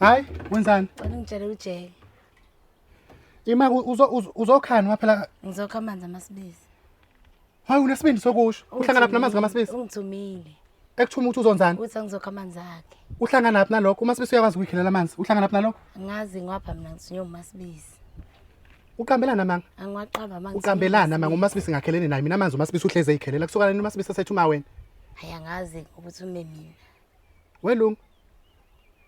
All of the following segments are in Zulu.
Hayi, wenzani? Cela ungitshele ujeke. Ima uzokhani waphela Ngizokha amanzi amasibisi. Hayi unesibindi sokusho. Uhlangana phi namanzi kamasibisi? Ungithumile. Ekuthuma ukuthi uzonzani? Uthi angizokha amanzi akhe. Uhlangana phi nalokho? Umasibisi uyakwazi ukuyikhelela amanzi. Uhlangana phi nalokho? Ngazi ngwapha mina ngithunywe umasibisi. Uqambelana amanga. Angiwaqamba amanzi. Uqambelana amanga uMasibisi ngakhelene naye mina amanzi uMasibisi uhleze ezikhelela kusuka lena uMasibisi asethe uma wena. Hayi angazi ukuthi ume mina. Welungu.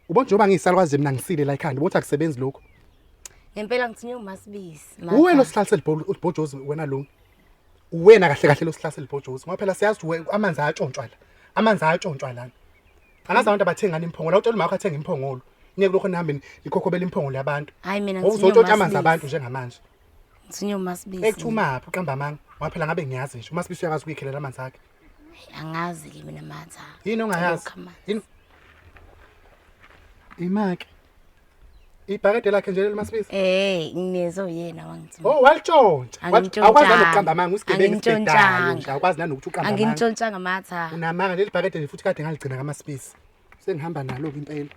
Ubona njengoba ngiyisalukwazi mina ngisile la ekhanda ubothi akusebenzi lokho. Ngempela ngithinywe uMasibisi. Uwe lo sihlalise libhojozi wena lungu. Uwena kahle kahle lo sihlalise libhojozi ngoba phela siyazi ukuthi amanzi ayatshontshwa la. Amanzi ayatshontshwa lana. angazi abantu abathengani imphongolo awutshela umakho athenga imphongolo niye kulokho nihambeni nikhokhobela imphongolo yabantu hayi mina uzotshontsha amanzi abantu njengamanje ngisinyo masibisi ekuthumaphi uqamba amanga waphela ngabe ngiyazi nje umasibisi uyakwazi ukuyikhelela amanzi akhe angazi ke mina matha yini ongayazi yini imake ibhakede lakhe nje lelimasibisi Eh, nginezo yena wangithuka. oh walitshontsha Angimtshontshanga. awukwazi nanokuqamba amanga usigebengu Angimtshontshanga. isigebengu nje awukwazi nanokuthi uqamba amanga Angimtshontshanga matha. unamanga leli bhakede nje futhi kade ngaligcina kamasibisi sengihamba nalo-ke impela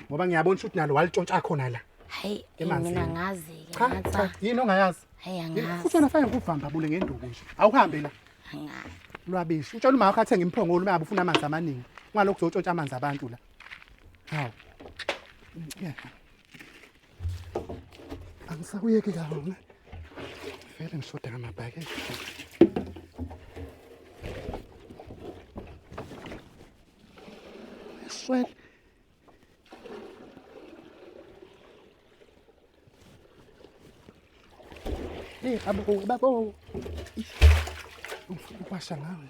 ngoba ngiyabona ukuthi nalo walitshontsha khona la Hayi, Emanzini. mina ngazi ke cha cha matha. yini ongayazi Hayi futhi angazi. wena fanele kuvamba bule ngenduku nje awuhambe la Angazi. lwabishi utshela umama wakho athenge imphongolo uma ngabe ufuna amanzi amaningi ungalokhu uzotshontsha amanzi abantu la Hawu. Ngicela. Angisakuyeki kahle. Vele ngishoda ngamabhakede. Swell. Hey, babo, babo. Ungifuna ukwasha ngawe.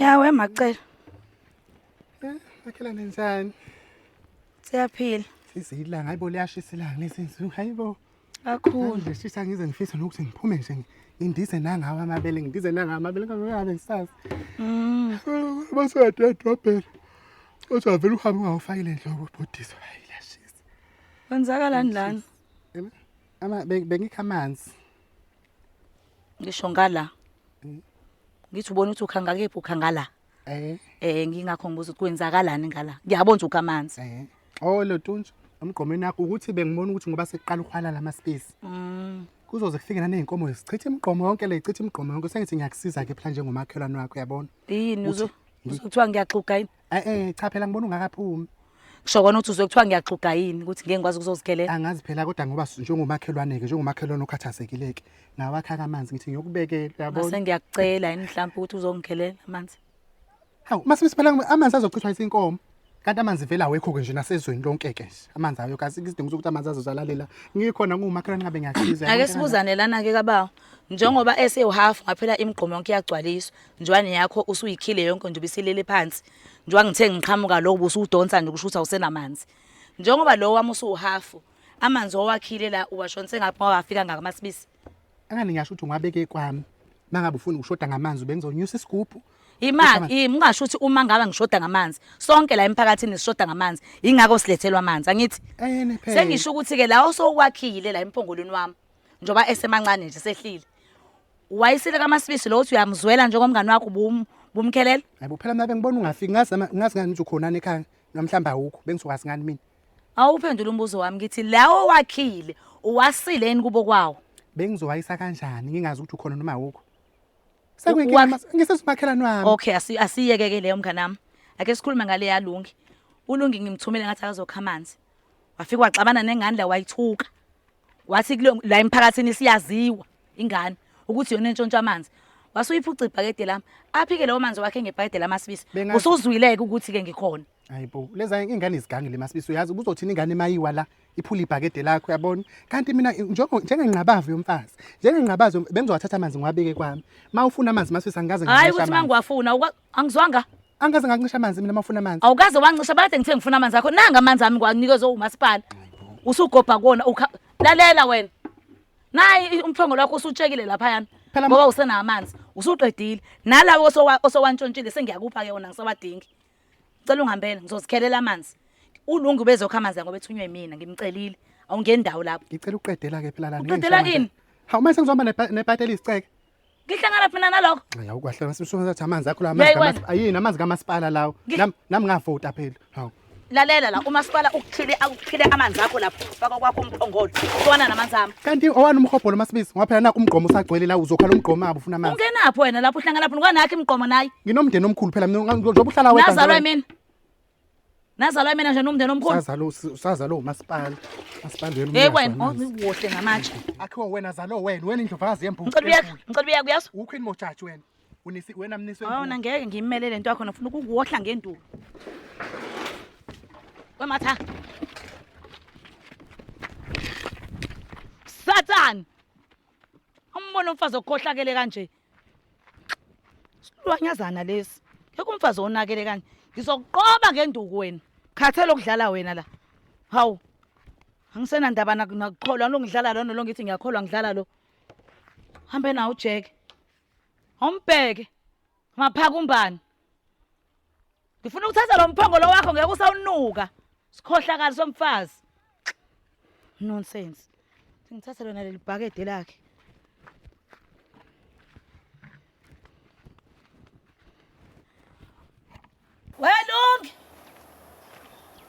yawe macela akhela nenzani siyaphila sizilanga hayibo liyashisa ilanga lezinsuku hayibo Kakhulu. Nje sisi angize ngifisa nokuthi ngiphume nje ngindize nangawo amabele ngindize nangawo amabele ngingabe ngisazi. Mm. Base yadedobhela. Othi avela uhambe ungawufakile enhloko ubhodiswa hayi la shisa. Kwenzakalani lana? Ama bengikha amanzi. Ngisho ngala. Mm. Ngithi ubona ukuthi ukhanga kephi ukhanga la. Eh. Eh ngingakho ngibuza ukuthi kwenzakalani ngala. Ngiyabona ukuthi ukamanzi. Eh. Oh lotuntsha emgqomeni yakho ukuthi bengibona ukuthi ngoba sekuqala ukhwala lama space. Mm. Kuzoze kufike naneyinkomo sichithe imigqomo yonke le ichithe imigqomo yonke sengithi ngiyakusiza ke phela njengomakhelwane wakho yabona. Yini uzo Kuthiwa ngiyaxuga yini? Eh eh cha phela ngibona ungakaphumi. kusho kona ukuthi uzwe kuthiwa ngiyaxuga yini ukuthi ngeke ngikwazi ukuzozikhelela angazi phela kodwa ngoba s- njengomakhelwane-ke njengomakhelwane okhathazekile-ke ngawakhaka amanzi ngithi ngiyokubekela ngase uyabona ngiyakucela yini mhlawumbe ukuthi uzongikhelela amanzi hawu uma sesiphela amanzi azochithwa isinkomo kanti amanzi vele awekho-ke nje nasezweni lonke-ke nje amanzi ayo kazi isidingo sokuthi amanzi azozalalela ngikhona nguwumakhelwane ngabe ngiyakhiza ake sibuzane lana-ke kabawo njengoba esewuhafu ngaphela imigqomo yonke iyagcwaliswa njwani yakho usuyikhile yonke nje ubisilele phansi njengoba ngithe ngiqhamuka lo ubusudonsa nje kusho ukuthi awusenamanzi njengoba lo wami usuwuhafu amanzi owakhile la uwashonise ngaphi ngoba afika ngakumasibisi angani ngisho ukuthi ungabeke kwami mangabe ufuna ukushoda ngamanzi ubengizonyusa isigubhu imali yimi ungasho ukuthi uma ngaba ngishoda ngamanzi sonke la emphakathini sishoda ngamanzi ingakho silethelwa amanzi angithi sengisho ukuthi ke la osokwakhile la empongolweni wami njengoba esemancane nje sehlile wayisile kamasibisi lo uthi uyamzwela njengomngane wakho bum bumkhelela hayi bo phela mina bengibona ungafiki ngazi ama- ngazi ngani ukuthi ukhonani ekhaya namhlawumbe awukho bengizokwazi ngani mina awuphendula umbuzo wami ngithi lawo wakhile uwasile yini kubo kwawo bengizohayisa kanjani ngingazi ukuthi ukhona noma awukho Wa- sekuyinkinga ngisesumakhelani wami okay asi- asiyeke-ke leyo mngane wami ake sikhulume ngale yalungi ulungi ngimthumile ngathi akazokha amanzi wafika waxabana nengane la wayithuka wathi kulo- la emphakathini siyaziwa ingane ukuthi yona entshontsha amanzi wase uyiphuca ibhakede lami aphike lawo manzi wakhe ngebhakede lami asibisi Bengazi- usuzwileke ukuthi-ke ngikhona hayibo leza ingane izigangi le masibisi uyazi kuzothini ingane mayiwa la iphula ibhakede lakho yabona kanti mina njengo- njengengqabavu yomfazi njengengqabazi yom- bengizowathatha amanzi ngiwabeke kwami ma ufuna amanzi masibisi angikaze hhayi ngiwashe ukuthi uma amanzi. ngiwafuna ukwa- Angizwanga. Angikaze ngakuncisha amanzi mina mafuna amanzi. Awukaze wancisha bathe ngithe ngifuna amanzi akho. Nanga amanzi ami ngwanikezwe umasipala. Usugobha kona ukha lalela wena. Nayi umthongo lwakho usutshekile lapha yana. Phela ma- Ngoba usena amanzi. Usuqedile. Nalawo osowa- osowantshontshile sengiyakupha ke wona ngisawadingi. Cela ungihambele ngizozikhelela amanzi. Ulungu ubezokha amanzi ngoba ethunywe mina ngimcelile. Awungeni ndawo lapho. Ngicela uqedela ke phela lana. Uqedela ngeke ngishaya kini? amanzi. Hawu mase ngizohamba nebhate- nebhate elisiceke. Ngihlangana phina nalokho. Hayi awukwahlela sisho ngathi amanzi akho la amanzi kamasipala. Ayini amanzi kamasipala lawo. Nam nam ngavota phela. Hawu. Lalela la umasipala ukuthile akuphile amanzi akho lapho faka kwakho umphongolo. Kwana namanzi ami. Kanti owani umhobholo masibizi ngoba phela naku umgqomo usagcwele la uzokhala umgqomo abo ufuna amanzi. Ungenaphi wena lapho uhlangana lapho ngwanakhe imgqomo naye. Nginomndeni omkhulu phela mina njengoba uhlala wedwa. Nazalwa mina. Nazalwa imina nje nomndeni omkhulu. Sazalo sazalo umasipala. Masipala yena. Hey wena, uziwohle ngamatshe. Akhiwa wena zalo wena, wena indlovazi yembuku. Ngicela uyazi, ngicela uyazi uyazi. Ukhwini mojaji wena. Unisi wena mniswe. Awona ngeke ngimele lento yakho nofuna ukukuwohla ngenduku. Wematha. Satan. Umbona umfazi okhohlakele kanje. Silwanyazana lesi. Ngeke umfazi onakele kanje. Ngizokuqoba ngenduku wena. Khathele ukudlala wena la. Hawu. Angisenandaba nak- nakukholwa lo ngidlala lona lo ngithi ngiyakholwa ngidlala lo. Hambe nawo uJeke. Awumbheke. Maphaka umbani. Ngifuna ukuthatha lo mphongolo wakho ngeke usawunuka. Sikhohlakali somfazi. Nonsense. Ngithathe lona leli bhakede lakhe. Welungi.